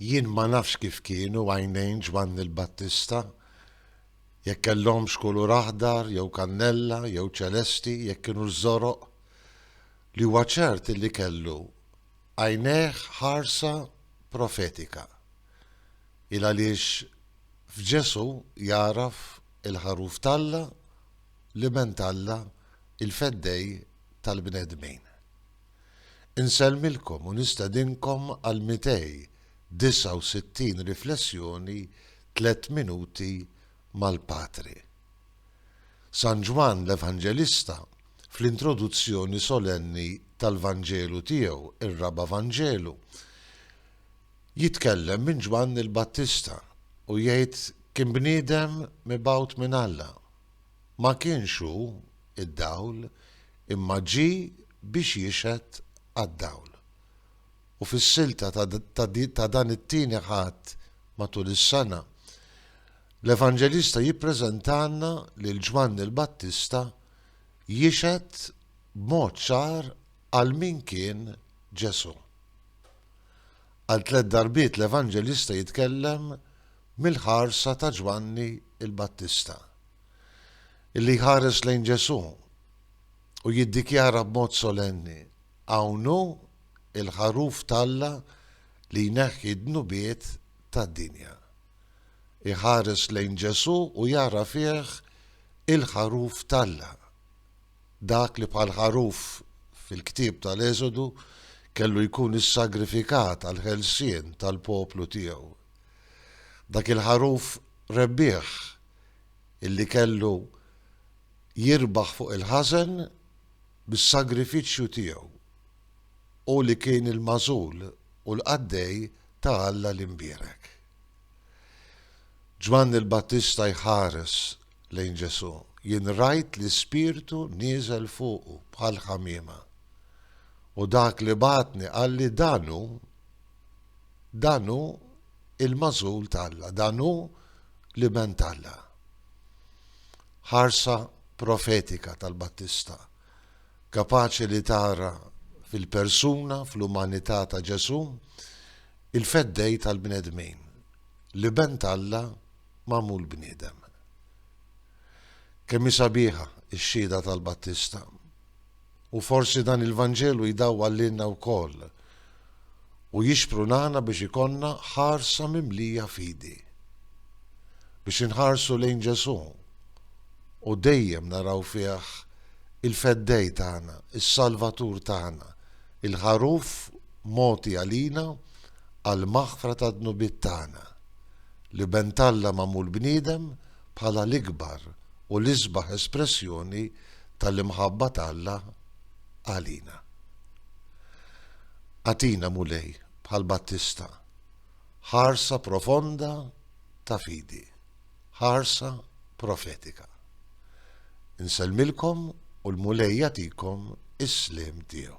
Jien ma nafx kif kienu għajnejn Ġwanni l-Battista, jekk kellhomx kulur aħdar jew kannella jew ċelesti, jekk kinux żoroq. Li huwa ċert illi kellu għajnejh ħarsa profetika. Il għaliex f'Ġesù jagħraf il-Ħaruf t'Alla, l-Iben t'Alla, il-Feddej tal-bnedmin. Insellmilkom u nistedinkom għal 269 riflessjoni Tliet Minuti mal-Patri. San Ġwann l-Evanġelista, fl-introduzzjoni solenni tal-Vanġelu tiegħu, ir-Raba' Vanġelu, jitkellem minn Ġwann il-Battista u jgħid kien bniedem mibgħut minn Alla. Ma kienx hu, id-dawl, imma ġie biex jixhed għad-dawl. U fis-silta ta' dan it-Tieni Ħadd matul is-sena, l-Evanġelista jippreżentalna lil Ġwanni l-Battista jixhed b'mod ċar għal min kien Ġesù. Għal tliet darbiet l-Evanġelista jitkellem mill-ħarsa ta' Ġwanni l-Battista, li jħares lejn Ġesù u jiddikjara b'mod solenni, Hawn hu l-Ħaruf t'Alla li jneħħi d-dnubiet tad-dinja. Iħares lejn Ġesù u jara fih il-Ħaruf t'Alla. dak li bħal ħaruf fil-ktieb tal-Eżodu kellu jkun issagrifikat għall-ħelsien tal-poplu tiegħu. Dak il-ħaruf rebbieħ illi kellu jirbaħ fuq il-ħażen bis-sagrifiċċju tiegħu, hu li kien il-magħżul u l-qaddej ta' Alla l-imbierek. Ġwanni l-Battista jħares lejn Ġesù, jien rajt l-Ispirtu nieżel fuqu bħal ħamiema. U dak li bagħatni qalli dan hu, dan hu il-magħżul t'Alla, dan hu l-Iben t'Alla. Ħarsa profetika tal-Battista, kapaċi li tara fil-persuna, fl-umanità ta' Ġesù, il-feddej tal-bnedmin, l-Iben t'Alla magħmul bniedem. Kemm hi sabiħa x-xhieda tal-Battista! U forsi dan il-Vanġelu jdawwal lilna wkoll u jixprunana biex ikollna ħarsa mimlija fidi. Biex inħarsu lejn Ġesù u dejjem naraw fih il-Feddej tagħna, is-Salvatur tagħna, il-Ħaruf mogħti għalina għall-maħfra tad-dnubiet tagħna. li Bent Alla magħmul bniedem bħala l-ikbar u l-isbaħ espressjoni tal-imħabba t'Alla għalina. Agħtina, Mulej, bħal Battista, ħarsa profonda ta' fidi, ħarsa profetika. Insellmilkom u l-Mulej jagħtikom is-sliem tiegħu.